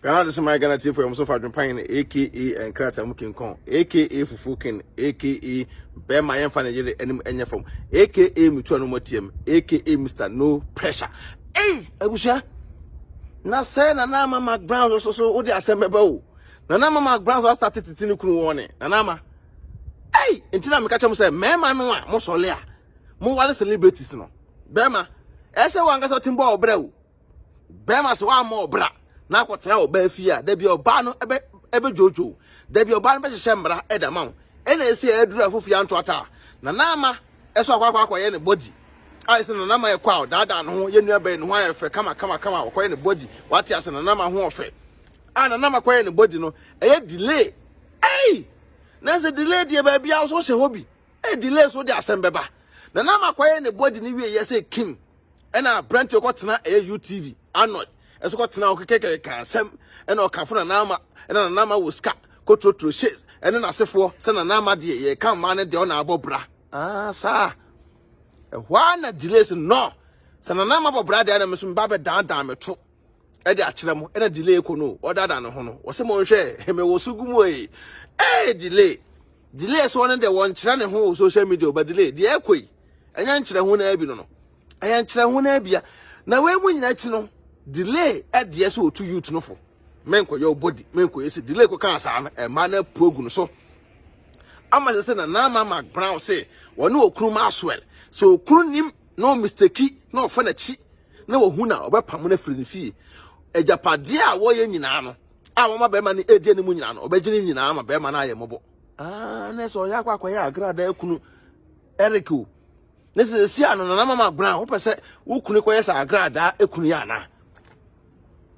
Ghana de soma yɛ Ghana tiefo yɛ wɔn so fa adwempan no aka nkrataa mu kinkɔn aka fufuo ken aka bɛrima yɛmfa ne yere anim ɛnyɛ fam aka metua no mu atiam aka Mr no pressure ei abusua na sɛ nana ama ma ground so so wode asɛm bɛba o nana ama ma ground so asate tete ne kunu wɔn ne nana ama ei nti na meka kyɛm sɛ mmarima no a mosɔle a mowale celebrities no bɛrima ɛsɛ wɔn ankasa ɔte mbɔ ɔbrɛ o bɛrima sɛ wammɔ ɔbra na akɔtena ɔbaa fie a dabi ɔbaa no ɛbɛ ɛbɛ dwodwo dabi ɔbaa no bɛhyehyɛ mmara ɛda ma wo ɛna ɛsi ɛduru a fofi anto ata na naama ɛso akɔ akɔ akɔyɛ ne body a ɛsɛ na naama ɛkɔ a ɔdaadaa ne ho yɛ nua bɛyɛ ne ho ayɛ fɛ kama kama kama ɔkɔyɛ ne body wate ase na naama ho ɔfɛ a na naama kɔyɛ ne body no ɛyɛ delay ɛyi na sɛ delay deɛ baabi a so hyɛ hɔ bi ɛyɛ delay so de asɛm bɛba na naama kɔyɛ ne body ne wie yɛ sɛ kim ɛna aberante ɔkɔtena ɛyɛ utv anɔy ɛso kɔtena hɔ kekekeka asɛm ɛna ɔkafo na naama ɛna nanaama wɔ sika kotrotro hye ɛne n'asefoɔ sɛ nanaama deɛ yɛka mmaa no deɛ ɔna abɔ bra aa saa ɛhɔ a na delays no sɛ nanaama bɔ bra deɛ na meso meba bɛdaadaa me to ɛde akyerɛ mo ɛna delay kɔ no ɔdada ne ho no wɔsɛ mo nhwɛ ɛmɛ wɔ so gumu ee ee delay delay so ɔno deɛ wɔnkyerɛ ne ho wɔ social media ɔba delay deɛ ɛkɔ yi ɛnyɛ nkyerɛ ho na ɛbi no no ɛyɛ nkyerɛ ho na ɛbia na wei mu nyina akyi no delay ɛdeɛ sɛ ɔtu youth no fo menkɔyɛ wo body menkɔyɛ sɛ delay kɔka asaa no ɛma no apu agu no so ama sɛ sɛ na na ama ma brown sɛ wɔne ɔkunu ma aswɛl sɛ ɔkunu nim na ɔmisteki na ɔfa n'akyi na wahu na ɔbɛpamo no afiri ne fie agyapadeɛ a wɔyɛ nyinaa no a wɔma bɛrima no ɛdi anim nyinaa no ɔbɛgye ne nyinaa ma bɛrima no ayɛ mmɔbɔ aa na sɛ ɔyɛ akɔ akɔyɛ agrada akunu Eric o ne sɛ sɛsi a no nana mama gbona wopɛ sɛ wo kunu kɔyɛ sɛ agrada akunu yɛ anaa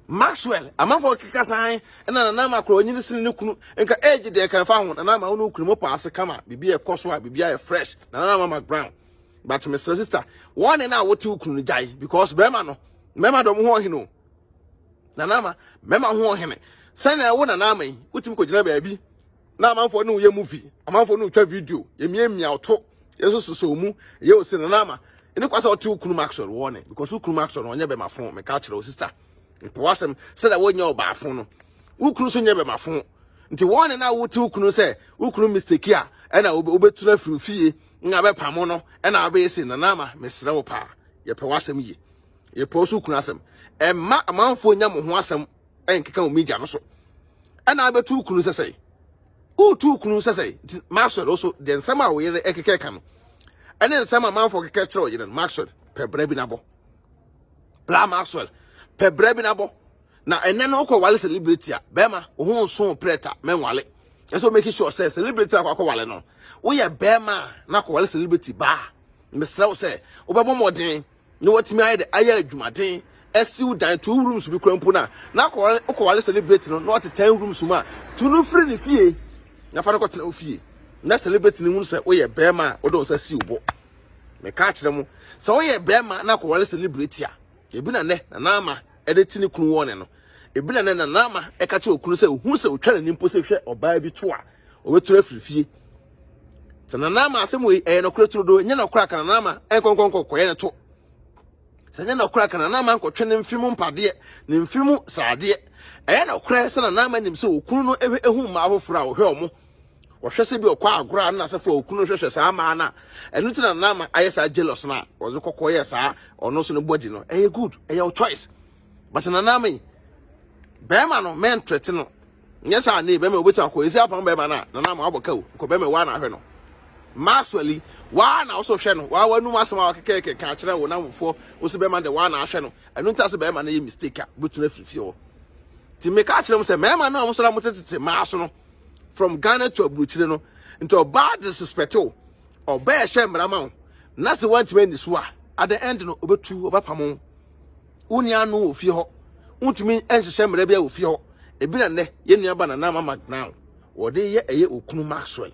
Maxwell amanfoɔ keka san na nana ama korɔ ɔnyini sene ne kunu nka age deɛ ka ɛfa ho nana ama wo ne wo kunu mo paase kama biribi ɛkɔ so a biribi ayɛ fresh nana ama ma brown but mesrɛ sister wɔn ne na a wɔte okunu no gyae because bɛrima no mɛma dɔm ho ɔhene o nana ama mɛma ho ɔhene sɛnea ɛwo nana ama yi wotumi kɔgyina baabi na amanfoɔ ne woyɛ movie amanfoɔ ne wotwa video yɛmiamia ɔto yɛsososo mu yɛ osi nana ama ɛne kwa sɛ ɔte wo kunu maxwell wɔ ne because wo kunu maxwell no ɔnyɛ bɛma fo meka kyerɛ wo sister mepɛ w'asɛm sɛnea wonyɛ ɔbaa fo no wo kunu so nyɛ bɛma fo nti wɔn ne na wote wo kunu sɛ wo kunu mistake a ɛna wobɛtu no afiri fie na abɛpamo no na abɛyɛ se nana ama mesrɛ wo paa yɛpɛ w'asɛm yie yɛpɛ wo so kunu asɛm ɛmma amanfoɔ nya mo ho asɛm ɛnkeka wo media no so ɛna abɛtu wo kunu sɛ sɛe wotu wo kunu sɛ sɛe nti maxwell wo so deɛ nsɛm a wo yere ɛkeka ɛka no ɛne nsɛm amanfoɔ keka kyerɛ wo yere no maxwell pɛ berɛ bi nabɔ bra maxwell pɛ berɛ bi nabɔ na ɛnɛ no ɔkɔ wale celebrity a bɛrima wo ho nso prɛta mɛnwale ɛsɛ o make sure sɛ celebrity akɔ akɔ wale no woyɛ bɛrima na akɔ wale celebrity baa mesrɛ wo sɛ wobɛbɔ mmɔden na watumi ayɛ de ayɛ adwumaden asiw dan two rooms bi kura mpo na na akɔ akɔ wale celebrity no na ɔte ten rooms mu a tu no firi ne fie na fa no kɔtena wo fie na celebrity no hu sɛ woyɛ bɛrima a wode wo nsa si wo bo meka akyerɛ mo sɛ woyɛ bɛrima na akɔ wale celebrity a ebi na nɛ na na ama ɛde te ne kunu wɔne no ebi na na naama ɛka kyerɛ okunu sɛ ohun sɛ otwa n'ani mpo sɛ hwɛ ɔbaa bi to a ɔbɛturu afiri fie sɛ na naama asɛm wei ɛyɛ nɔkorɛ turo do nyɛ nɔkorɛ aka na naama ɛnkɔnkɔnkɔkɔyɛ ne to sɛ nyɛ nɔkorɛ aka na naama nkɔtwe ne mfe mu mpadeɛ ne mfe mu sradeɛ ɛyɛ nɔkorɛ sɛ na naama nim sɛ okunu no ehwɛ ehu mmaa foforɔ a ɔhwɛ wɔn ɔhwɛ sɛ bi ɔkɔ agorɔ a na sɛ fo okunu hwehwɛ saa maa na ɛno ti na na ama ayɛ saa jealous na ɔdze kɔkɔ yɛ saa ɔno so ne body no ɛyɛ good ɛyɛ o choice but na na me bɛrima no men threat no nyɛ saa ne bɛrima obetumi akɔ esi apam bɛrima na na na ama abɔ kaw kɔ bɛrima wa na ahwɛ no maswali wa na ɔso hwɛ no wa wa num asɛm a ɔkekeke ka akyerɛ wo na mfo osi bɛrima de wa na ahwɛ no ɛno nti ase bɛrima no yɛ mistake a betumi afifie hɔ ti me ka akyerɛ mo sɛ mɛrima no a mo so na mo tetete maa so no from ghana to aburokyire no nti ɔbaa disrespect o ɔbɛɛ hyɛ mmara ma wo na sɛ woantumi ani so a at the end no ɔbɛtu ɔbɛpamo wo nua no wɔ fie hɔ wontumi nhyehyɛ mmara bi a wɔ fie hɔ ebi na nnɛ yɛn nua ba nana mama now wɔde yɛ ɛyɛ okunu maxwell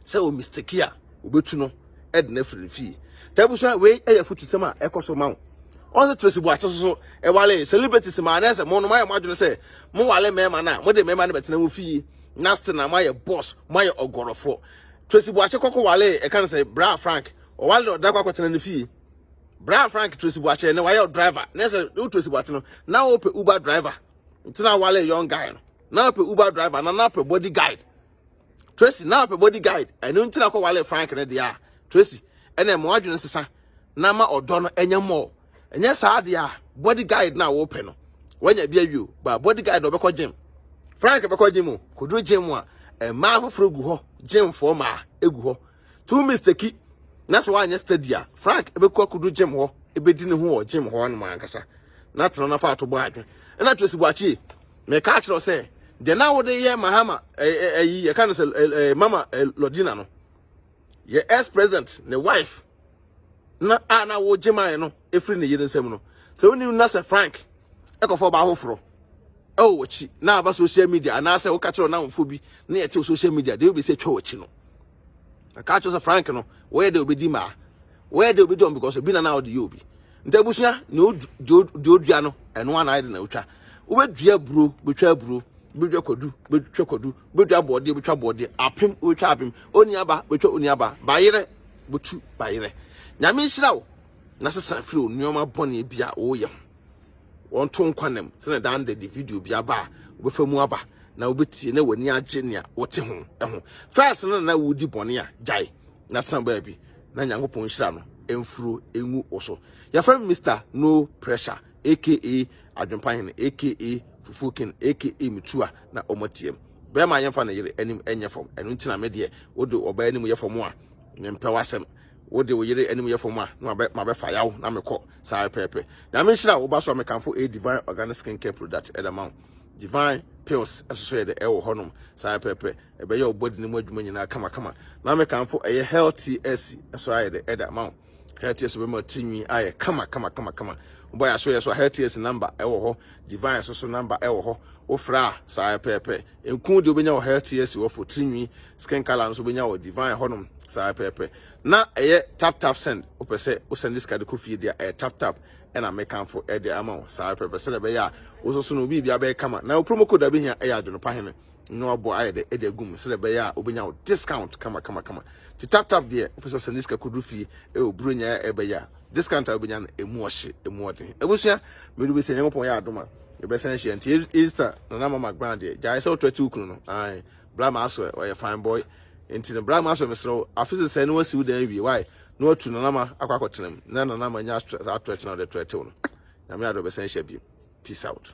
sɛ omisteki a obetu no de no afiri ne fie ta abusua wei yɛ futusɛm a ɛkɔ so ma wo ɔsɛ tracy buakye soso ɛwale celebrities ma anɛ sɛ mo no moayɛ mo adwene sɛ mowale mmarima no a mode mmarima no bɛtena mo fie na ste na moayɛ boss moayɛ ɔgɔrɔfoɔ tracy buakye kɔkɔ wale ɛka no sɛ bra frank ɔwale na ɔda kɔ akɔtena ne fie bra frank tracy buakye ne wayɛ driver ne sɛ wo tracy buakye no na wopɛ uber driver nti na wale young guy no na wopɛ uber driver na na wopɛ body guide tracy na ɔpɛ body guide ɛno nti na kɔwale frank no deɛ a tracy ɛna ɛma wadwene nsesa na ma ɔdɔ no ɛnyɛ mmɔɔ ɛnyɛ saa deɛ a body guide na wɔpɛ no wanya bi awie o ba body guide na ɔbɛkɔ gym frank bɛkɔ gym o kɔduru gym a mmaa foforɔ gu hɔ gymfoɔ mmaa gu hɔ two mistake na sɛ wanyɛ study a frank bɛkɔ akɔduru gym hɔ ɛbɛdi ne ho wɔ gym hɔ no ankasa na tena no afa ato bɔ adwene ɛna tracy bɔ akyie Meka akyerɛ wo sɛ deɛ na wode yɛ Mahama ayi yɛka no sɛ Mama Lodina no yɛ ex president ne wife na a na wogye mae no ɛfiri ne yere nsam no sɛ wonim na sɛ Frank ɛkɔfa ɔbaa foforɔ ɛwɔ w'akyi na aba social media anaasɛ woka kyerɛ ɔnamfoɔ bi na yɛte social media deɛ wobɛsi atwa w'akyi no ɛka kyerɛ sɛ Frank no wɔyɛ deɛ wobɛdi maa wɔyɛ deɛ wobɛdi ɔm because obi na na wode yɛ obi Nti abusua, deɛ odua no, ɛno ana ayɛ de na otwa. Wobɛdua aburo, bɛtwa aburo, bɛdwa kwadu, bɛtwa kwadu, bɛdwa abɔɔdeɛ, bɛtwa abɔɔdeɛ, apem, wobɛtwa apem, oniaba, bɛtwa oniaba, bayerɛ, bɛtu bayerɛ. Nyame nhyira wo, na sesa firi wo nneɛma bɔne bi a woyɛ ho. Wɔnto nkwa nam, sɛnɛ daa ndɛ de video bi aba a, wobɛfa mu aba, na wobɛtie, na w'ani agye nea wote ho ho. Fɛs no na wodi bɔne a, gyae, na san baabi. na Nyankopɔn nhyira no mforo ngu wo so. Yɛfrɛ me Mr. No Pressure aka Adwempa Hene aka Fufuo King aka Metua na ɔmo atiam. Bɛrima yɛmfa ne yere anim nyɛ fam, ɛno nti na me deɛ wode ɔbaa anim yɛ fam a mempɛ w'asɛm. Wode wo yere anim yɛ fam a na mabɛfa yaw na mekɔ saa pɛpɛɛpɛ. Nyame nhyira wo ba so a mekamfo ɛyɛ Divine Organic Skin Care Product ɛde ma wo. Divine Pills nso so yɛ dɛ ɛwɔ hɔnom saa pɛpɛɛpɛ. ɛbɛyɛ wo body no mu adwuma nyinaa kamakama na mekamfo ɛyɛ healthy s ɛso ayɛ dɛ ɛda ma wo healthy s bɛma tirinwi ayɛ kama kama kama kama wobɔ yɛ aso yɛ so a healthy s number ɛwɔ hɔ divine so so number ɛwɔ hɔ wofrɛ a saa pɛɛpɛ nku deɛ wobɛnya wɔ healthy s wɔ fo tirinwi skin color nso wobɛnya wɔ divine hɔnom saa pɛɛpɛ na ɛyɛ tap tap send wopɛ sɛ wo send this card kɔ fie deɛ ɛyɛ tap tap ɛna mekamfo ɛde ama wo saa pɛɛpɛ sɛ ɛbɛyɛ a wososo no biribi abɛyɛ kama na wo promo code abɛhia ɛyɛ adwonopa hene na wabɔ ayɛ dɛ ɛde agum sɛdeɛ ɛbɛyɛ a wobɛnya wo discount kama kama kama nti tap tap deɛ wopɛ sɛ ɔsɛne sika kɔduru fie ɛwɔ buro nya ɛbɛyɛ a discount a wobɛnya no ɛmu ɔhye ɛmu ɔden abusua mede wobɛsɛ nyankopɔn yɛ adom a yɛbɛsan ahyia nti easter na na mama grand deɛ gyae sɛ wotɔ ati wo kunu no ae bra ma asɔ ɔyɛ fine boy nti no bra ma asɔ mesrɛ wo afe sesɛe ne wasi wo dan awie wae na watu nanama akɔ akɔtenam na nanama nya atwerɛte na wode twerɛtew no nyame adɔ bɛsan hyia bio peace out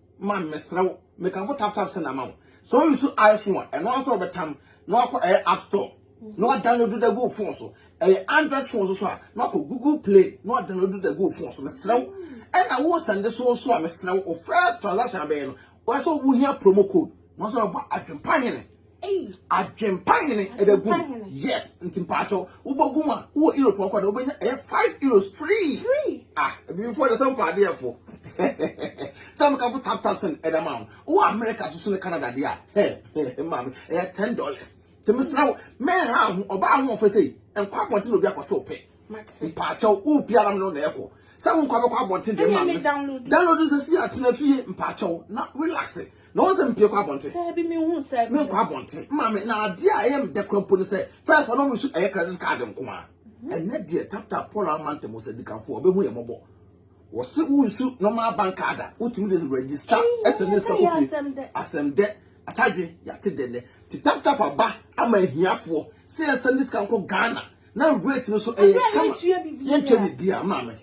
man mesrɛ wo mekamfo tap tap send ama wo sɛ ɔyɛ so iphone a ɛno ara sɛ ɔbɛtam na wakɔ ɛyɛ app store na wadownload da gu phone so ɛyɛ android phone so so a na wakɔ google play na wadownload da gu phone so mesrɛ wo ɛna wo send so so a mesrɛ wo first transaction abɛyɛ no wɔsɛ wohia promo code wɔsɛ wɔbɔ adwempa hene Adwempa hene ɛbɛ gu yes nti mpaatɔ wobɔ gu mu a wowɔ euro pɔnkɔ de wobɛnya ɛyɛ five euros free ah ebibifoɔ de sɛ mpa adeɛ fo sɛ mo kafo tap tap sɛn ɛda ma wo wowɔ America soso ne Canada deɛ a hɛ maame ɛyɛ ten dollars tèmi srɛ wo mɛn ha ho ɔbaa ho ɔfɛ sɛ nkɔ abɔnten na obi akɔ sɛ ɔpɛ mpaatɔ wo pia nam no na ɛkɔ sɛ wo nkɔ abɛkɔ abɔnten deɛ maame download nsɛsi atena fie mpaatɔ na relax Na wɔn sɛ mpie kɔ abɔnten. Daabi mi hu sɛ. Mi nkɔ abɔnten. Maame na adeɛ a ɛyɛ mi dɛ kura mpo ne sɛ first wɔn mu nso ɛyɛ credit card nko ara. Ɛnɛ deɛ tap tap Paul ama ntɛm sɛ dikanfoɔ ɔbɛhu yɛn mɔbɔ. Wɔsi wunsu normal bank card a wotumi de register ɛsɛ ne sika kofie. Asɛm dɛ atadwe yate dɛ nɛ ti tap tap aba ama ahiafoɔ sɛ yɛn sɛ ne sika nkɔ Ghana na rate no so ɛyɛ kama yɛntua biribiara ma me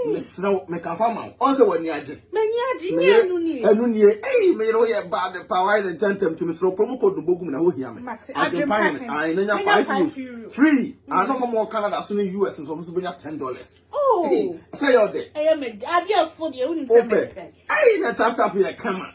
mesrɛ wo meka fa ma wo ɔn sɛ w'ani agye m'ani agye nyɛ ɛno nie ɛno nie ei meyere wo yɛ baa de paa wayɛ ne ntɛntɛm nti mesrɛ wo kuro mu kɔ dumbo gum na ɛhɔ hia me adwempa hene ae na nya 5 euros free ano ma mɔ canada so ne us nso ɔmo so bɛnya 10 dollars oh. sɛ yɛ ɔdɛ ɛyɛ mɛ adeɛ fo deɛ wonim sɛ mɛpɛ ei na tap tap yɛ kama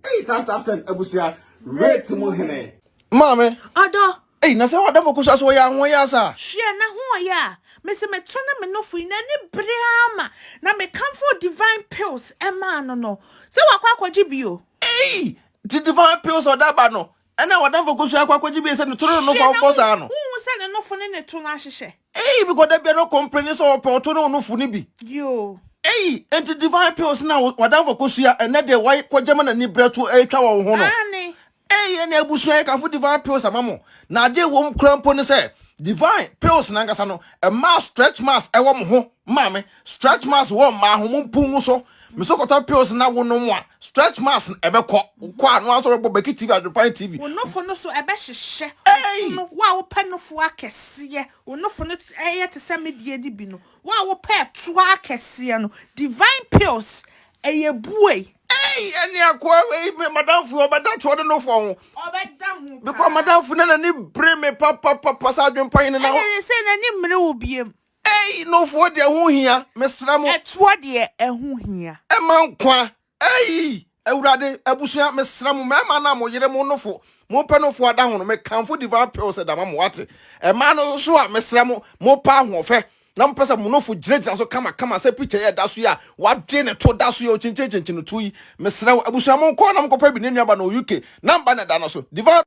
ei tap tap sɛn abusua rate mu hene maame ɔdɔ Ei, na sɛ w'adamfo ko so a, so wɔyɛ ahoɔyaa saa? Hwɛ n'ahoɔyaa a mese meto no me nofo yi, n'ani bere ara ma, na mekamfoo Divine Pills maa no no. Sɛ wakɔ akɔgye bi o. Ei, nti Divine Pills a ɔde aba no na w'adamfo ko so akɔ akɔgye bi sɛ ne to ne ne nofo a wɔbɔ saa no? Hwɛ na wonhu sɛ ne nofo ne ne to no ahyehyɛ? Ei, bikɔ da biara no ɔkompleni sɛ ɔpɛ ɔto ne onofo no bi. Yoo. Ei, nti Divine Pills no a w'adamfo ko so a ɛnnɛ deɛ wakɔgye ma n'ani bere ato retwa wɔ wo ho no? Aane. Ei, yɛn abusua, yɛkamfo Divine Pills ama mo, na ade a ɛwɔ mu koraa mpo ne sɛ, Divine Pills no ankasa no, ɛmaa stretch marks wɔ mo ho, maame, stretch marks wɔ mmaa ho, mo mpunu so. Me nso kɔtɔ pills na wonom a, stretch marks no ɛbɛkɔ. Wokɔ a, na wɔasɔ bɛbɔ Becky TV, Adwempa ne TV. Wo nofo no nso ɛbɛhyehyɛ. Ei! Ɔsono, wo a wopɛ nofo akɛseɛ, wo nofo no yɛ te sɛ me deɛ no bi no, wo a wopɛ ɛtoa akɛseɛ no, Divine Pills, ɛyɛ buei. Ei, ɛne akoa wei me madamfo yi, ɔbɛda toɔ de no fɔ ho. ɔbɛda ho Bikɔ paa. madamfo na n'ani bere me papapapa saa adwempa yi ne na Ɛne ne sɛ n'ani mmere wo biem. Ei, nofoɔ deɛ ho hia, mesrɛ mo. Ɛtoɔ deɛ ɛho hia. Ɛma nkwa. Ei, Awurade, abusua, mesrɛ mo, mmarima no a mo yere mo nofo, mompɛ nofo adahono, mekamfo Divine Pills da ma mo, wate? Mmaa no nso a, mesrɛ mo, mopɛ ahoɔfɛ, Na mopɛ sɛ monofo gyinagyina so kamakama sɛ pikya yi a ɛda so yi a wɔade ne to da so yi a okyinkyinkyinkyin no to yi. Mesrɛ wo, abusua monkɔ na monkɔpɛ bi, ne nuaba no wɔ UK, number no da no so. Diva.